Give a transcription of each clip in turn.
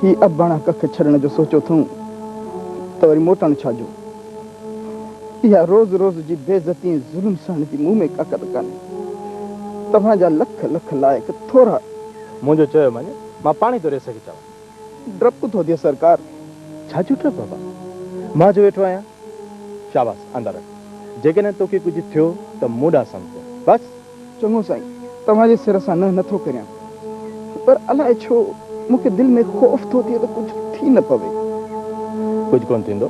هي ابڻا ڪک ڇڏڻ جو سوچيو اٿئون ته وري موٽڻ ڇا جو؟ اها روز روز جي بي عزتي ۽ ظلم سهڻ جي مون ۾ طاقت ڪانهي. توهان جا لک لک لائق ٿورا. منهنجو چيو مڃ، مان پاڻهي ٿو ريس کي چوان. ڊپ ٿو ٿئي سرڪار. ڇا جو ڊپ بابا؟ مان جو ويٺو آهيان. شاباس اندر اچ. جيڪڏهن توکي ڪجهه ٿيو ته مون ڏانهن سمجهه. بس! چڱو سائين، توهان جي سر سان ننهن نٿو ڪريان، پر الاء ڇو مون کي دل ۾ خوف ٿو ٿئي ته ڪجهه ٿي نه پوي. ڪجهه ڪونه ٿيندو،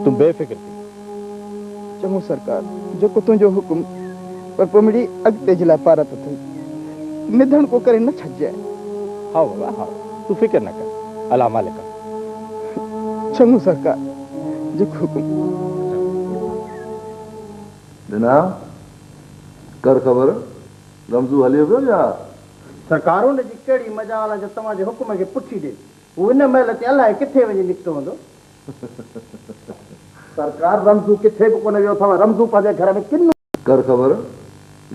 تون بي فڪر ٿي. چڱو سرڪار، جيڪو تنهنجو حڪم. پر پوء مڙئي اڳتي جي لاء پارت اٿئي. نڌڻ ڪو ڪري نه ڇڏجانء. هائو بابا هائو، تون فڪر نه ڪر، الله مالڪ آ. چڱو سرڪار، جيڪو حڪم. ڏنا، ڪر خبر، غمزو هليو ويو يا؟ سرڪارون جي ڪهڙي مجال آ جو توهان جي حڪم کي پٺي ڏين. هو ان مهل تي الائي ڪٿي وڃي نڪتو هوندو. سرڪار رمزو ڪٿي به ڪونه ويو اٿئو. رمزو پنهنجي گهر ۾ ڪن. ڪر خبر،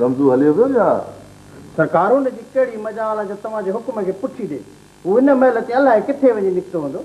غمزو هليو ويو يا؟ سرڪارون جي ڪهڙي مجال آ جو توهان جي حڪم کي پٺي ڏين. هو ان مهل تي الائي ڪٿي وڃي نڪتو هوندو.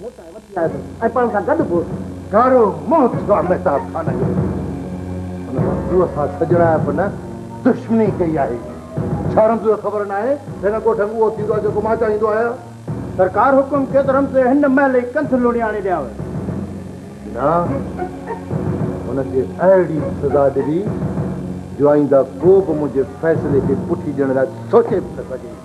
مون تائين وٺي آيو ۽ پاڻ سان گڏ به ڳاڙهو منهن ٿيو آ مهتاب خان جو. ان رمزوء سان سڄڻائپ نه دشمني ڪئي آهي. ڇا رمزوء کي خبر ناهي ته هن ڳوٺ ۾ اهو ٿيندو آ جيڪو مان چاهيندو آهيان؟ سرڪار حڪم ڪيو ته رمزوء هن مهل ئي ڪنڌ لوڙي آڻي ڏيانء. نه، هن کي اهڙي سزا ڏبي جو آئينده ڪو به منهنجي فيصلي کي پٺي ڏيڻ لاء سوچي به نه سگهي.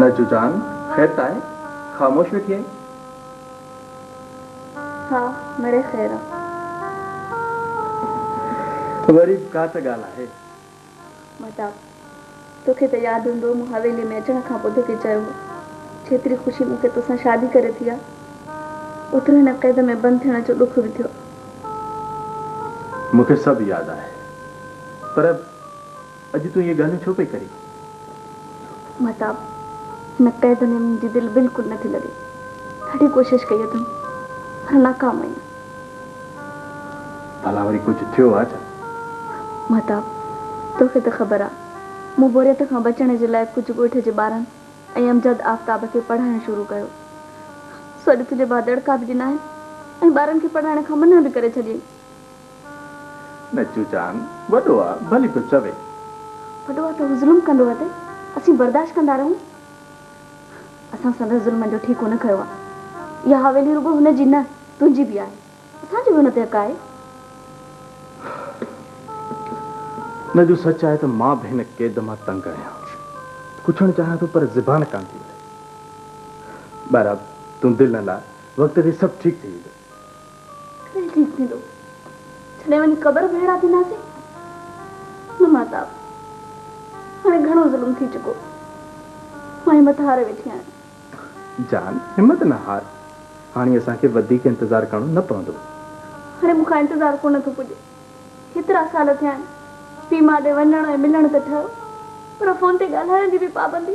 نجو جان خير تانء خاموش ويٺي آهين؟ ها مڙي خير آ. وري به ڪا ته ڳالهه آهي. مهتاب، توکي ته ياد هوندو مون حويليء ۾ اچڻ کان پوء توکي چيو هو، جيتري خوشي مون کي توسان شادي ڪري ٿي آ، اوترو هن قيد ۾ بند ٿيڻ جو ڏک به ٿيو آ. مون کي سڀ ياد آهي. پر اڄ تون اهي ڳالهيون ڇو پئي ڪرين؟ مهتاب، هن قيد ۾ منهنجي دل بلڪل نٿي لڳي. ڏاڍي ڪوشش ڪئي اٿم، پر ناڪام آهيان. ڀلا وري ڪجهه ٿيو آ ڇا؟ مھتاب، توکي ته خبر آ، مون بوريت کان بچڻ جي لاء ڪجهه ڳوٺ جي ٻارن ۽ امجد آفتاب کي پڙھائڻ شروع ڪيو. سو اڄ تنھنجي ڀاء دڙڪا به ڏنا آھن ۽ ٻارن کي پڙھائڻ کان منع به ڪري ڇڏيئي. نچو جان، وڏو آ، ڀلي ٿو چوي. وڏو آ ته ھو ظلم ڪندو اٿئي، اسين برداشت ڪندا رھون. اسان سندس ظلمن جو ٺيڪو نه کنيو آهي. اها حويلي رڳو هن جي نه، تنهنجي به آهي. اسان جو به هن تي حق آهي. نه جو سچ آهي ته مان به هن قيد مان تنگ آهيان. پڇڻ چاهيان ٿو پر زبان ڪانه ٿي وٺي. ٻارا، تون دل نه لاء، وقت تي سڀ ٺيڪ ٿي ويندو. ڪڏهن ٺيڪ ٿيندو؟ ڇڏي وڃي قبر به هيڙا ٿينداسين؟ نه ماهتاب، هاڻي گهڻو ظلم ٿي چڪو. مان همت هاري ويٺي آهيان. جان، همت نه هار. هاڻي اسان کي وڌيڪ انتظار ڪرڻو نه پوندو. هاڻي مون کان انتظار ڪونه ٿو پڄي. هيترا سال ٿيا آهن. پيء ماء ڏي وڃڻ ۽ ملڻ ته ٺهيو، پر فون تي ڳالهائڻ جي به پابندي.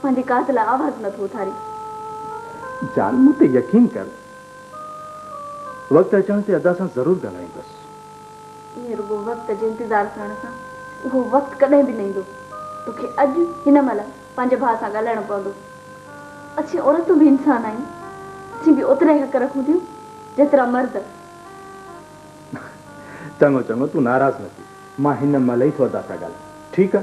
پنهنجي ڪاڌ لاء آواز نه ٿو اٿاري. جان مون تي يقين ڪر وقت اچڻ تي ادا سان ضرور ڳالهائيندس. ائين رڳو وقت جي انتظار ڪرڻ سان اهو وقت ڪڏهن به نه ايندو. توکي اڄ هن مهل پنهنجي ڀاء سان ڳالهائڻو پوندو. اسين عورتون به انسان آهيون. اسين به اوترا ئي حق رکون ٿيون جيترا مرد. چڱو چڱو تون ناراض نه ٿي مان هن مهل ئي ٿو ادا سان ڳالهايان ٺيڪ آ.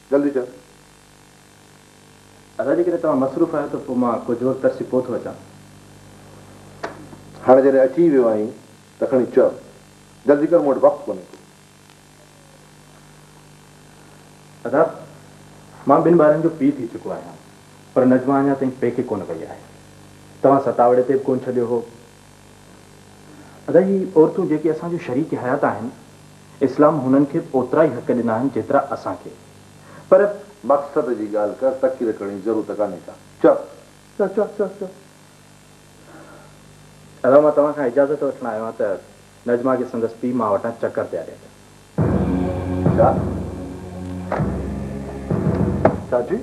جلدي ڪر ادا جيڪڏهن توهان مصروف آهيو ته پوء مان ڪجهه وقت ترسي پوء ٿو اچان. هاڻي جڏهن اچي ئي ويو آهين ته کڻي چئه جلدي ڪر مون وٽ وقت ڪونهي ڪو. ادا مان ٻن ٻارن جو پيء ٿي چڪو آهيان پر نجمه اڃا تائين پيڪي ڪونه وئي آهي توهان ستاوڙي تي به ڪونه ڇڏيو هو. ادا هي عورتون جيڪي اسان جون شريڪ حيات آهن اسلام هنن کي به اوترا ئي حق ڏنا آهن جيترا اسان کي پر. مقصد جي ڳالهه ڪر تقرير ڪرڻ جي ضرورت ڪانهي ڪا چؤ چؤ چؤ چؤ چؤ. ادا مان توهان کان اجازت وٺڻ آيو آهيان ته نجمه کي سندس پيء ماء وٽان چڪر پيا ڏين. ڇا؟ ڇا جي؟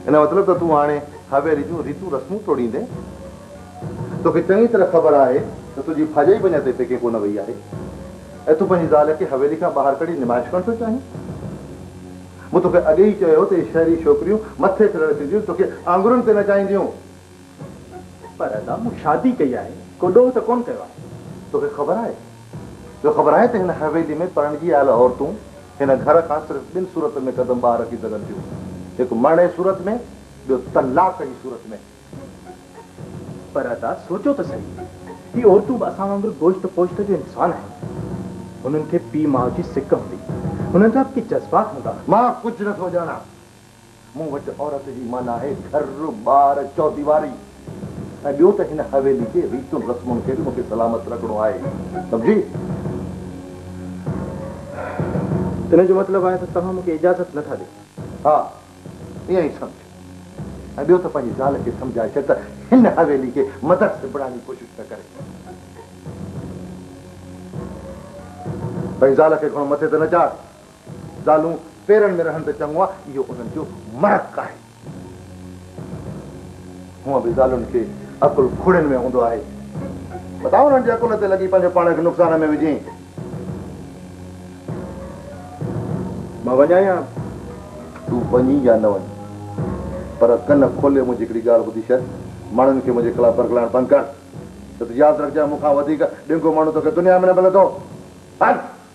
ان جو مطلب ته تون هاڻي حويلي جون ريتون رسمون ٽوڙيندين؟ توکي چڱي طرح خبر آهي ته تنهنجي ڀاڄائي به اڃا تائين پيڪي ڪونه وئي آهي ۽ تون پنهنجي زال کي حويلي کان ٻاهر ڪڍي نمائش ڪرڻ ٿو چاهين؟ مون توکي اڳي ئي چيو هو ته اهي شهري ڇوڪريون مٿي ڦريل ٿينديون توکي آڱرن تي نچائينديون. پر ادا مون شادي ڪئي آهي ڪو ڏوهه ته ڪونه ڪيو آهي. توکي خبر آهي جو خبر آهي ته هن حويلي ۾ پرڻجي آيل عورتون هن گهر کان صرف ٻن صورتن ۾ قدم ٻاهر رکي سگهن ٿيون هڪ مرڻ جي صورت ۾ ٻيو طلاق جي صورت ۾. پر ادا سوچو ته سهي هي عورتون به اسان وانگر گوشت پوشت جو انسان آهن هنن کي پيء ماء جي سڪ هوندي هنن جا به ڪي جذبات هوندا. مان ڪجهه نٿو ڄاڻان. مون وٽ عورت جي معنيٰ آهي گهر، ٻار، چوديواري ۽ ٻيو ته هن حويلي جي ريتن رسمن کي به مون کي سلامت رکڻو آهي. سمجهي؟ ان جو مطلب آهي ته توهان مون کي اجازت نٿا ڏيو؟ ها، ائين ئي سمجهه ۽ ٻيو ته پنهنجي زال کي سمجهائي ڇڏ ته هن حويلي کي مدرسي بڻائڻ جي ڪوشش نه ڪري. پنهنجي زال کي گهڻو مٿي ته نه چاڙهه، زالون پيرن ۾ رهن ته چڱو آهي، اهو انهن جو مرڪ آهي. هونء به زالن کي عقل کوڙين ۾ هوندو آهي. متان انهن جي عقل تي لڳي پنهنجو پاڻ کي نقصان ۾ وجهين. مان وڃان يا تون وڃين يا نه وڃين، پر ڪن کولي منهنجي هڪڙي ڳالهه ٻڌي ڇڏ، ماڻهن کي منهنجي خلاف برغلائڻ بند ڪر. نه ته ياد رکجانء مون کان وڌيڪ ڏينگو ماڻهو توکي دنيا ۾ نه ملندو. هل!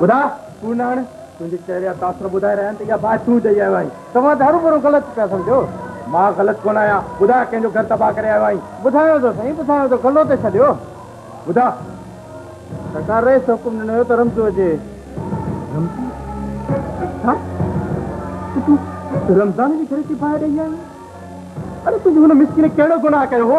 ٻڌاء ڪو ناڻ، تنهنجي چهري جا تاثر ٻڌائي رهيا آهن ته اها باهه تون ڏئي آيو آهين. توهان ته هرو ڀرو غلط پيا سمجهو. مان غلط ڪونه آهيان. ٻڌاء ڪنهن جو گهر تباهه ڪري آيو آهين. ٻڌايو ٿو سائين، ٻڌايو ٿو. گلو ته ڇڏيو. ٻڌاء. سرڪار رئيس حڪم ڏنو هيو ته رمزو اچي. رمزو؟ ڇا؟ ته تون رمضان جي گهر کي باهه ڏئي آيو آهين. اڙي تنهنجي هن مسڪين ڪهڙو گناهه ڪيو هو؟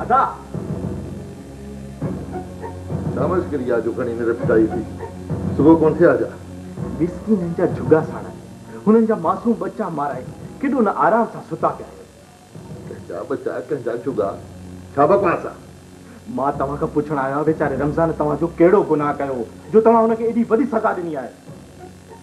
ادا! ڇا مشڪل يا جو کڻي نرپ ٽائي ٿي صبح ڪون ٿئي آجا. مسڪينن جا جهڳا ساڙائي، هنن جا معصوم ٻچا مارائي، ڪيڏو نه آرام سان ستا پيا آهيو. ڪنهن جا ٻچا، ڪنهن جا جهڳا، ڇا بڪواس آ. مان توهان کان پڇڻ آيو آهيان ويچاري رمضان توهان جو ڪهڙو گناهه ڪيو هو جو توهان هن کي ايڏي وڏي سزا ڏني آهي.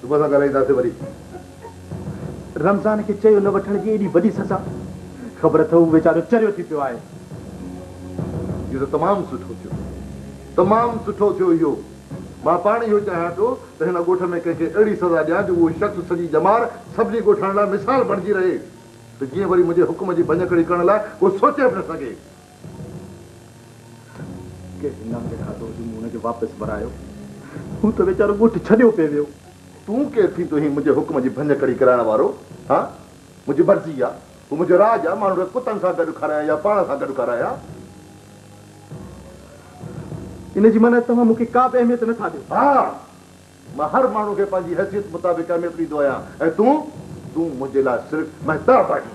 توبه سان ڳالهائينداسين وري. رمضان کي چيو نه وٺڻ جي ايڏي وڏي سزا! خبر اٿئو هو ويچارو چريو ٿي پيو آهي. اهو ته تمام سٺو ٿيو. تمام سٺو ٿيو اهو. مان پاڻ اهو چاهيان ٿو ته هن ڳوٺ ۾ ڪنهن کي اهڙي سزا ڏيان جو اهو شخص سڄي ڄمار سڀني ڳوٺاڻن لاء مثال بڻجي رهي ته جيئن وري منهنجي حڪم جي ڀڃڪڙي ڪرڻ لاء ڪو سوچي به نه سگهي. ڪنهن جي نانگ کاڌو هجي مون ان کي واپس ورايو هو ته ويچارو ڳوٺ ڇڏيو پئي ويو. تون ڪير ٿيندو هين منهنجي حڪم جي ڀڃ ڪڙي ڪرائڻ وارو ها منهنجي مرضي آ هو منهنجو راڄ آ ماڻهن کي ڪتن سان گڏ کارايان يا پاڻ سان گڏ کارايان. ان جي معنيٰ توهان مون کي ڪا به اهميت نه ٿا ڏيو. ها مان هر ماڻهو کي پنهنجي حيثيت مطابق اهميت ڏيندو آهيان ۽ تون تون منهنجي لاء صرف مهتاب آهين.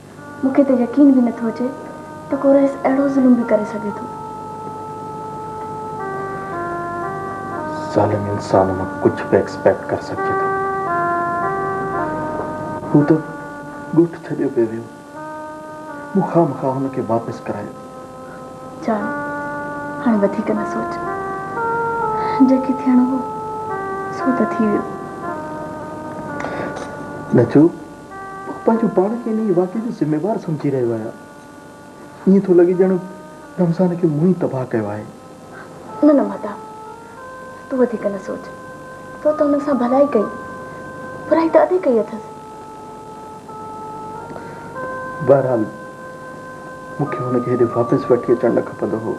مون کي ته يقين به نٿو اچي ته ڪو رئيس اهڙو ظلم به ڪري سگهي ٿو. ظالم انسان مان ڪجهه به ايڪسپيڪٽ ڪري سگهجي ٿو. هو ته ڳوٺ ڇڏيو پئي ويو. مون خامخواه هن کي واپس ڪرايو. جان، هاڻي وڌيڪ نه سوچ. جيڪي ٿيڻو هو سو ته ٿي ويو. نجوء، پنهنجو پاڻ کي انهيء واقعي جو ذميوار سمجهي رهيو آهيان. ائين ٿو لڳي ڄڻ رمضان کي مون ئي تباهه ڪيو آهي. نه نه مهتاب، تون وڌيڪ نه سوچ. تو ته انهن سان ڀلائي ڪئي، برائي ته ادي ڪئي اٿس. بهرحال مون کي هن کي هيڏي واپس وٺي اچڻ نه کپندو هو.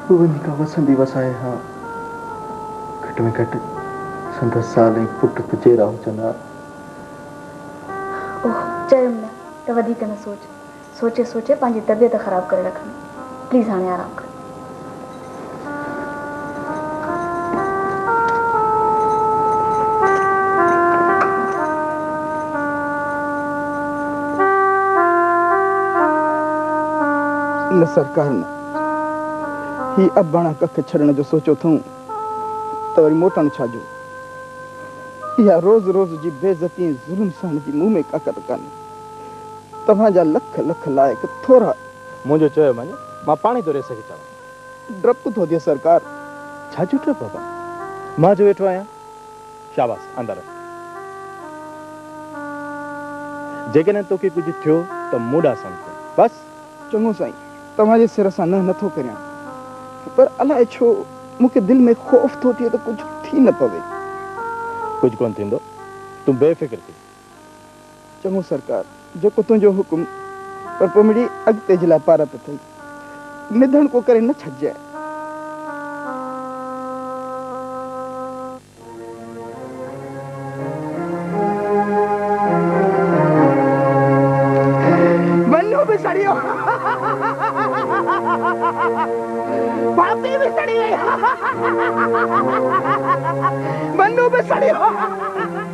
هو وڃي ڪا وسندي وسائي ها. گهٽ ۾ گهٽ سندس زال ۽ پٽ ته جيئرا هجن ها. اوه، چيم نه ته وڌيڪ نه سوچ. سوچي سوچي پنهنجي طبيعت خراب ڪري رکندين. پليز هاڻي آرام ڪر. نه سرڪار نه. هي اباڻا ڪک ڇڏڻ جو سوچيو اٿئون ته وري موٽڻ ڇا جو؟ اها روز روز جي بي عزتي ۽ ظلم سهڻ جي مون ۾ طاقت ڪانهي. توهان جا لک لک لائق ٿورا. منهنجو چيو مڃ، مان پاڻهي ٿو ريس کي چڙهان. ڊپ ٿو اچي سرڪار. ڇا جو ڊپ بابا؟ مان جو ويٺو آهيان. شاباس اندر اچ. جيڪڏهن توکي ڪجهه ٿيو ته مون ڏانهن سمجهه ڪر بس. چڱو سائين توهان جي سر سان نه نه ٿو ڪريان پر الاء ڇو مون کي دل ۾ خوف ٿو ٿئي ته ڪجهه ٿي نه پوي. ڪجهه ڪونه ٿيندو تون بي فڪر ٿي چڱو سرڪار، جيڪو تنهنجو حڪم، پر پوء مڙئي اڳتي جي لاء پارت اٿئي. نڌڻ ڪو ڪري نه ڇڏجانء. ونو به سڙيو، ڀاتي به سڙي ويئي، ونو به سڙيو.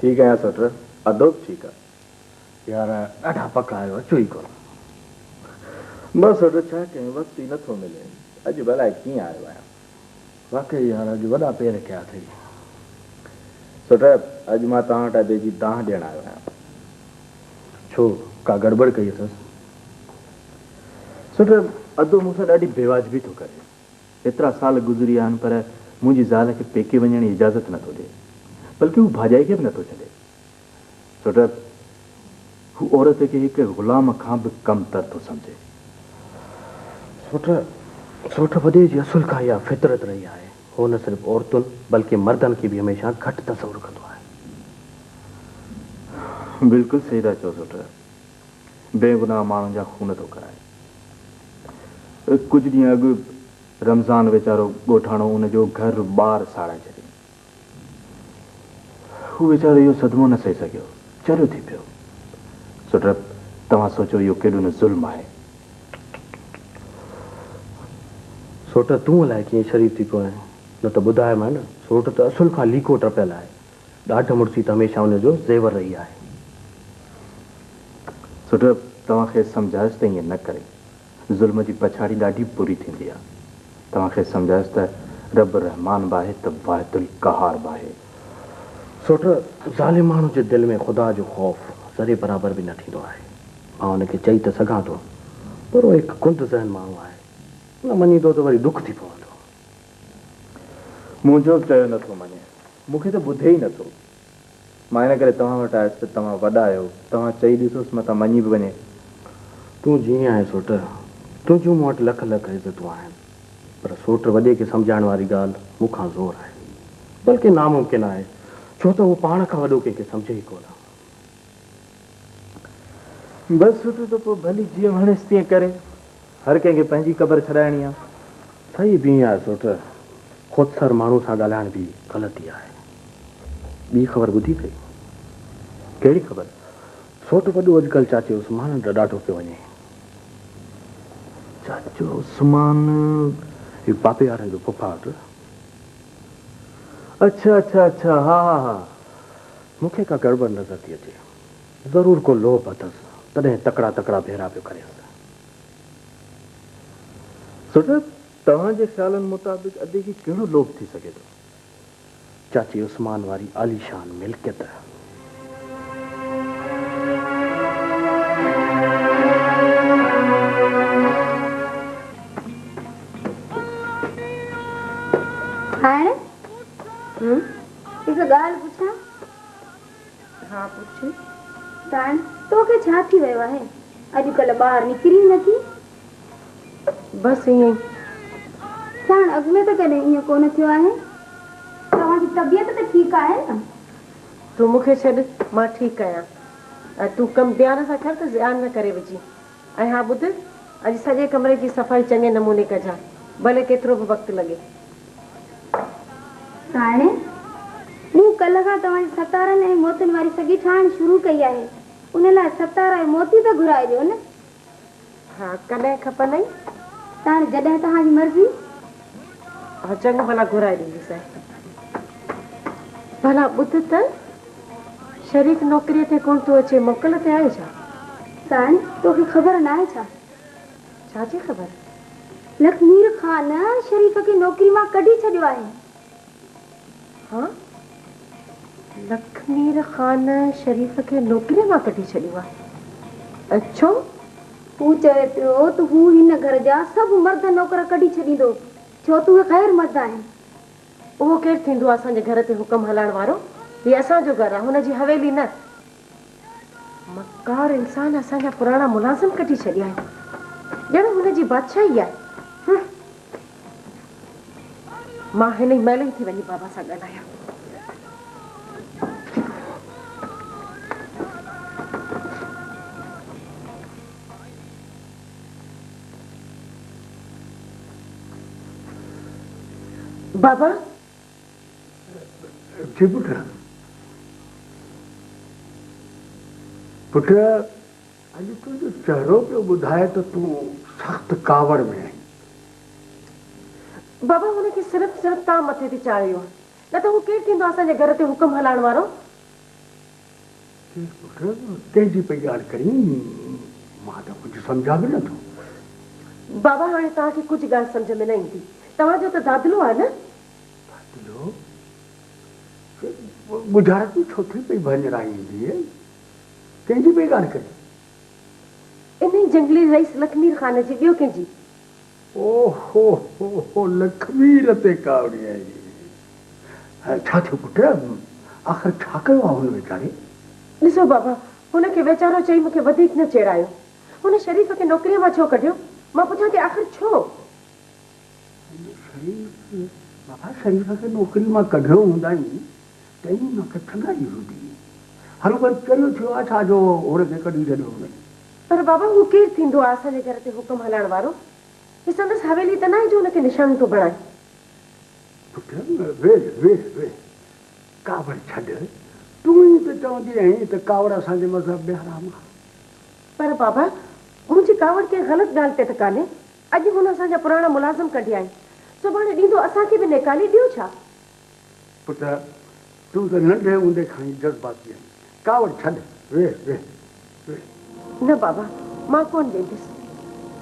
ٺيڪ آهيان سوٽر، ادو به ٺيڪ آ. يار ڏاڍا پڪ آهيو اچو ئي ڪونه. بس سوٽر ڇا ڪيون وقت ئي نٿو ملي. اڄ به الائي ڪيئن آيو آهيان. واقعي يار اڄ وڏا پير ڪيا اٿئي. سوٽر اڄ مان توهان وٽ ادي جي دانهن ڏيڻ آيو آهيان. ڇو ڪا گڙٻڙ ڪئي اٿس. سوٽر ادو مون سان ڏاڍي بيواجبي ٿو ڪري. ايترا سال گذري ويا آهن پر منهنجي زال کي پيڪي وڃڻ جي اجازت نه ٿو ڏي. بلڪه هو ڀاڄائي کي به نه ٿو ڇڏي. سوٽر هو عورت کي هڪ غلام کان به ڪم تر ٿو سمجهي. سوٽر سوٽر وڏي جي اصل کان اها فطرت رهي آهي. هو نه صرف عورتن بلڪه مردن کي به هميشه گهٽ تصور ڪندو آهي. بلڪل صحيح ٿا چئو سوٽر. بي گناهه ماڻهن جا خون ٿو ڪرائي. ڪجهه ڏينهن اڳ رمضان ويچارو ڳوٺاڻو ان جو گهر ٻار ساڙائي ڇڏيائين. هو ويچارو اهو صدمو نه سهي سگهيو. چريو ٿي پيو. سو رب توهان سوچو اهو ڪيڏو نه ظلم آهي. سوٽ تون الائي ڪيئن شريف ٿي پيو آهين. نه ته ٻڌايومانء نه سوٽ ته اصل کان ليڪو ٽپيل آهي. ڏاڍ مڙسي ته هميشه ان جو زيور رهي آهي. سوڍو توهان کيس سمجهايس ته ائين نه ڪري. ظلم جي پڇاڙي ڏاڍي بري ٿيندي آهي. توهان کيس سمجهايس ته رب رحمان به آهي ته واحد القهار به آهي. سوڍو! ظالم ماڻهو جي دل ۾ خدا جو خوف ذري برابر به نه ٿيندو آهي. مان ان کي چئي ته سگهان ٿو پر هو هڪ ڪنڌ ذهن ماڻهو آهي. نه مڃيندو ته وري ڏک ٿي پوندو. منهنجو به چيو نه ٿو مڃي. مون کي ته ٻڌي ئي نٿو. مان ان ڪري توهان وٽ آيس ته توهان وڏا آهيو، توهان چئي ڏسوس متان مڃي به وڃي. تون جيئن آهين سوٽ، تنهنجون مون وٽ لک لک عزتون آهن، پر سوٽ وڏي کي سمجهائڻ واري ڳالهه مون کان زور آهي، بلڪه ناممڪن آهي، ڇو ته هو پاڻ کان وڏو ڪنهن کي سمجهي ئي ڪونه. بس سٺو ته پوء ڀلي جيئن وڻيس تيئن ڪري. هر ڪنهن کي پنهنجي قبر ڇڏائڻي آ. صحيح به ائين آهي سوٽ. خودسر ماڻهو سان ڳالهائڻ به غلط ئي آهي. ٻي خبر ٻڌي اٿئي؟ ڪهڙي خبر؟ سوٽ وڏو اڄڪلهه چاچي عثمان ڏانهن ڏاڍو پيو وڃي. چاچو عثمان؟ هي پاپي وارن جو ڦوڦاٽ. اڇا اڇا اڇا ها ها ها. مون کي ڪا گڙٻڙ نظر ٿي اچي. ضرور ڪو لوڀ اٿس، تڏهن تڪڙا تڪڙا ڀيرا پيو ڪريس. سرجاب، توهان جي خيالن مطابق ادي کي ڪهڙو لوڀ ٿي سگهي ٿو؟ چاچي عثمان واري عاليشان ملڪيت. هاڻ؟ هڪ ڳالهه پڇان؟ ها پڇ. سائڻ، توکي ڇا ٿي ويو آهي؟ اڄڪلهه ٻاهر نڪرين ئي نٿي؟ بس ائين ئي. سائڻ، اڳ ۾ ته ڪڏهن ائين ڪونه ٿيو آهي. توهان جي طبيعت ته ٺيڪ آهي نه؟ تون مون کي ڇڏ، مان ٺيڪ آهيان. تون ڪم ڌيان سان ڪر ته زيان نه ڪري وجهين. ۽ ها ٻڌ، اڄ سڄي ڪمري جي صفائي چڱي نموني ڪجان، ڀلي ڪيترو به وقت لڳي. سائڻ، مون ڪلهه کان توهان جي ستارن ۽ موتين واري سڳي ٺاهڻ شروع ڪئي آهي، ان لاء ستارا ۽ موتي ته گهرائي ڏيو نه. ها، ڪڏهن کپندئي؟ سائڻ، جڏهن توهان جي مرضي. ها چڱو ڀلا گهرائي ڏينديسين. ڀلا ٻڌ ته شريڪ نوڪريء تي ڪونه ٿو اچي موڪل تي آهي ڇا؟ سائين توکي خبر ناهي ڇا؟ ڇا جي خبر؟ لک مير خان شريڪ کي نوڪري مان ڪڍي ڇڏيو آهي. ها لکمير خان شريف کي نوڪريء مان ڪڍي ڇڏيو آهي. ڇو؟ هو چوي پيو ته هو هن گهر جا سڀ مرد نوڪر ڪڍي ڇڏيندو ڇو ته اهي غير مرد آهن. اهو ڪير ٿيندو آهي اسان جي گهر تي حڪم هلائڻ وارو؟ هي اسان جو گهر آهي هن جي حويلي نه. مڪار انسان اسان جا پراڻا ملازم ڪڍي ڇڏيا آهن ڄڻ هن جي بادشاهي آهي مان هن ئي مهل ئي ٿي وڃي بابا سان ڳالهايان بابا اٿي پٽ! پٽ اڄ تنهنجو چهرو پيو ٻڌائي ته تون سخت ڪاوڙ ۾ آهين. بابا هن کي صرف صرف تان مٿي تي چاڙهيو آهي نه ته هو ڪير ٿيندو آهي اسان جي گهر تي حڪم هلائڻ وارو. چيس پٽ ڪنهن جي پئي ڳالهه ڪرين مان ته ڪجهه سمجهان به نه ٿو. بابا هاڻي توهان کي ڪجهه ڳالهه سمجهه ۾ نه ايندي توهان جو ته دادلو آهي نه ڳجهارت جي ڇو ٿي پئي ڀڃرائيندينء، ڪنهن جي پئي ڳالهه ڪرين؟ انهيء جهنگلي رئيس لکمير خان جي، ٻيو ڪنهن جي؟ او هو هو هو لکمير تي ڪاوڙي آئي. ڇا ٿيو پٽ؟ آخر ڇا ڪيو آ هن ويچاري؟ ڏسو بابا، هن کي ويچارو چئي مون کي وڌيڪ نه چيڙايو. هن شريف کي نوڪريء مان ڇو ڪڍيو؟ مان پڇان ٿي آخر ڇو؟ شريف، بابا شريف کي نوڪري مان ڪڍيو هوندائين، تنهن مان ته ٿڱائي هوندي. هل وري چريو ٿيو آهي ڇا جو هن کي ڪڍي ڇڏيو هوندائين. پر بابا هو ڪير ٿيندو آهي اسان جي گهر تي حڪم هلائڻ وارو؟ هي سندس حويلي ته ناهي جو هن کي نشانو ٿو بڻائي. پٽ، ويهه ويهه ويهه، ڪاوڙ ڇڏ، تون ئي ته چوندي آهين ته ڪاوڙ اسان جي مذهب ۾ حرام آهي. پر بابا منهنجي ڪاوڙ ڪنهن غلط ڳالهه تي ته ڪانهي. اڄ هن اسان جا پراڻا ملازم ڪڍيائين، سڀاڻي ڏيندو اسان کي به نيڪالي ڏيو ڇا؟ پٽ! تون ته ننڍي هوندي کان ئي جذباتي آهين، ڪاوڙ ڇڏ، ويهه، ويهه، ويهه. نه بابا، مان ڪونه ويندس.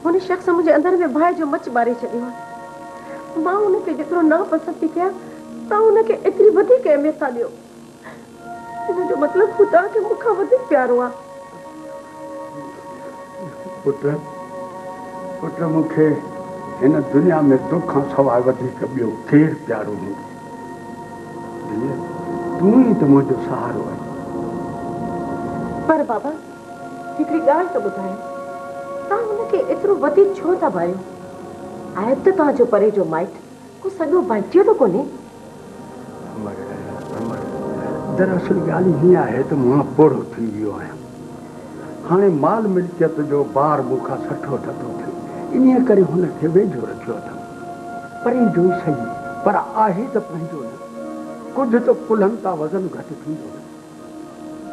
هن شخص منهنجي اندر ۾ باهه جو مچ ٻاري ڇڏيو آهي. مان هن کي جيترو ناپسند ٿي ڪيان، توهان هن کي ايتري وڌيڪ اهميت ٿا ڏيو. ان جو مطلب خدا کي مون کان وڌيڪ پيارو آ. پٽ، پٽ مون کي هن دنيا ۾ تو کان سواء وڌيڪ ٻيو ڪير پيارو هوندو؟ ڌيء، تون ئي ته منهنجو سهارو آهين. پر بابا، هڪڙي ڳالهه ته ٻڌايو، توهان هن کي ايترو وڌيڪ ڇو ٿا ڀايو؟ آهي به ته توهان جو پري جو مائٽ، ڪو سڳو بچيو ته ڪونهي؟ امڙ امڙ دراصل ڳالهه هيئن آهي ته مان پوڙهو ٿي ويو آهيان. هاڻي مال ملڪيت جو بار مون کان سٺو ٿڌو ٿئي. انهيء ڪري هن کي ويجهو رکيو اٿم. پرين جو ئي سهي پر آهي ته پنهنجو نه. ڪجهه ته ڪلهن تان وزن گهٽ ٿيندو نه.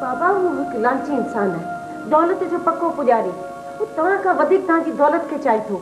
بابا هو هڪ لالچي انسان آهي. دولت جو پڪو پڄاري. هو توهان کان وڌيڪ توهان جي دولت کي چاهي ٿو.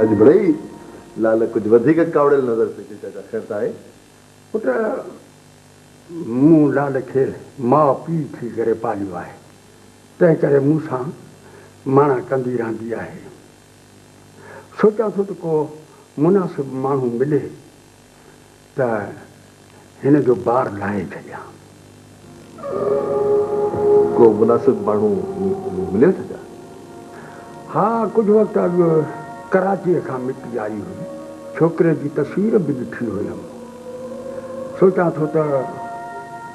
اڄ مڙئي لعل ڪجهه وڌيڪ ڪاوڙيل نظر پئي اچي، چاچا خير ته آهي؟ پٽ، مون لعل کي ماء پيء ٿي ڪري پاليو آهي، تنهن ڪري مون سان ماڻا ڪندي رهندي آهي. سوچان ٿو ته ڪو مناسب ماڻهو ملي ته هن جو بار لاهي ڇڏيان. ڪو مناسب ماڻهو مليو ته ڇا؟ ها، ڪجهه وقت اڳ ڪراچيء کان مٽي آئي هئي. ڇوڪري جي تصوير به ڏٺي هيم. سوچان ٿو ته.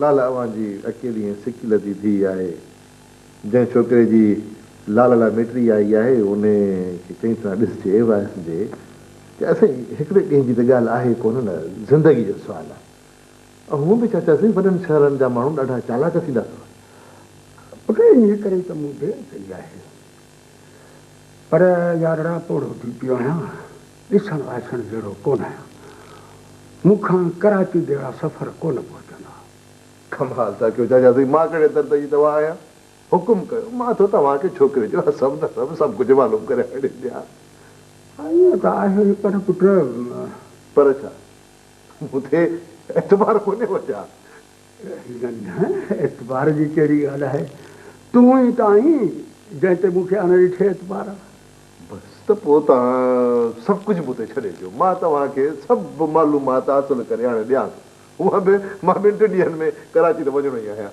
لالا اوهان جي اڪيلي ۽ سڪيلڌي ڌيء آهي. جنهن ڇوڪري جي لالا لاء ميٽري آئي آهي، انهي کي چڱي طرح ڏسجي وائسجي. چاچا سائين، هڪڙي ڏينهن جي ته ڳالهه آهي ڪونه نه، زندگي جو سوال آهي. هونء به چاچا سائين وڏن شهرن جا ماڻهو ڏاڍا چالاڪ ٿيندا اٿو. پٽ انهي ڪري ته مون دير ڪئي آهي. پر يارڙا پوڙهو ٿي پيو آهيان. ڏسڻ وائسڻ جهڙو ڪونه آهيان. مون کان ڪراچي جهڙا سفر ڪونه پهچندا. ڪمال ٿا ڪيو چاچا سائين. مان ڪهڙي درد جي دوا آهيان. حڪم ڪيو مان ٿو توهان کي ڇوڪري جو حسب نسب سڀ ڪجهه معلوم ڪري آڻي ڏيان. ائين ته آهي پر پٽ. پر ڇا؟ مون تي اعتبار ڪونهي ڇا؟ ڳنڍڻ اعتبار جي ڪهڙي ڳالهه آهي؟ تون ئي ته آهين، جنهن تي مون کي اڻ ڏٺي اعتبار آهي. بس ته پوء توهان سڀ ڪجهه مون تي ڇڏي ڏيو. مان توهان کي سڀ معلومات حاصل ڪري آڻي ڏيان ٿو. هونئن به مان ٻن ٽن ڏينهن ۾ ڪراچي ته وڃڻو ئي آهيان.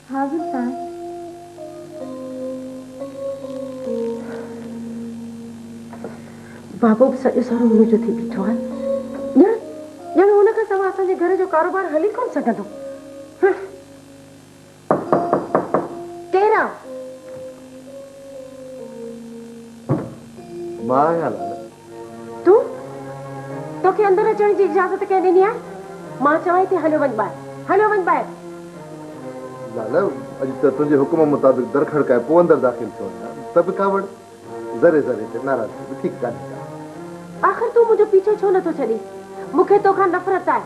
حاضر سان بابو به سڄو سارو منهنجو ٿي بيٺو آهي ڄڻ ڄڻ هن کان سوا اسان جي گهر جو ڪاروبار هلي ڪونه سگهندو ڪير آ مان آهيان لالا تون؟ توکي اندر اچڻ جي اجازت ڪنهن ڏني آهي؟ مان چوانء ٿي هليو وڃ ٻاهر. هليو وڃ ٻاهر. لالا، اڄ ته تنهنجي حڪم مطابق در کڙڪائي پوء اندر داخل ٿيو آهيان ته به ڪاوڙ، ذري ذري تي ناراضگي به ٺيڪ ڪانهي ڪا. آخر تون منهنجو پيڇو ڇو نٿو ڇڏين؟ مون کي توکان نفرت آهي.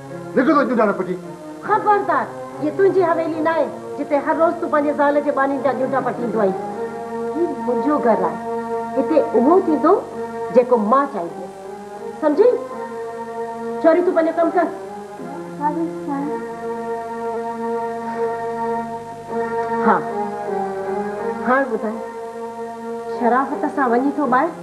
لکي ٿو ڄونڊا نه پٽين. خبردار! هيء تنهنجي حويلي ناهي، جتي هر روز تون پنهنجي زال جي ٻانهين جا ڄونڊا پٽيندو آهين. هي منهنجو گهر آهي. هتي اهو ٿيندو، جيڪو مان چاهينديس. سمجهين؟ ڇوري تون پنهنجو ڪم ڪر. ها ميس سائين. ها، هاڻ ٻڌاء، شرافت سان وڃين ٿو ٻاهر؟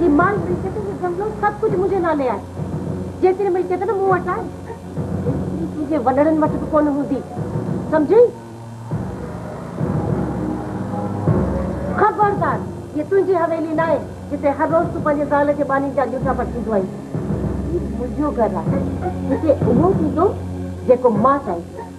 هي مال ملڪيت هي جنگلون سڀ ڪجهه منهنجي نالي آهي جيتري ملڪيت نه مون وٽ آهي ايتري تنهنجي وڏڙن وٽ به ڪونه هوندي سمجهين خبردار هي تنهنجي حويلي ناهي جتي هر روز تون پنهنجي زال جي ٻانهين جا ڳوٺا پٽيندو آهين هي منهنجو گهر آهي هتي اهو ٿيندو جيڪو مان چاهيندس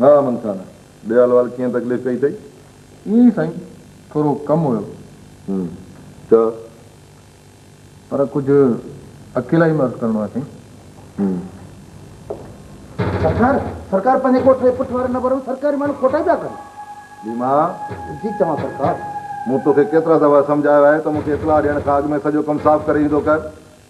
ها امن خان، ڏيال وال ڪيئن تڪليف ڪئي اٿئي؟ ائين ئي سائين، ٿورو ڪم هيو. هم، ڇا؟ پر ڪجهه اڪيلائي ۾ عرض ڪرڻو آهي سائين. هم. سرڪار، سرڪار پنهنجي ڳوٺ جي پٺ واري نبر ۾ سرڪاري ماڻهو کوٽائي پيا ڪن. ليما! جي چوان سرڪار. مون توکي ڪيترا دفعا سمجهايو آهي ته مون کي اطلاع ڏيڻ کان اڳ ۾ سڄو ڪم صاف ڪري ايندو ڪر.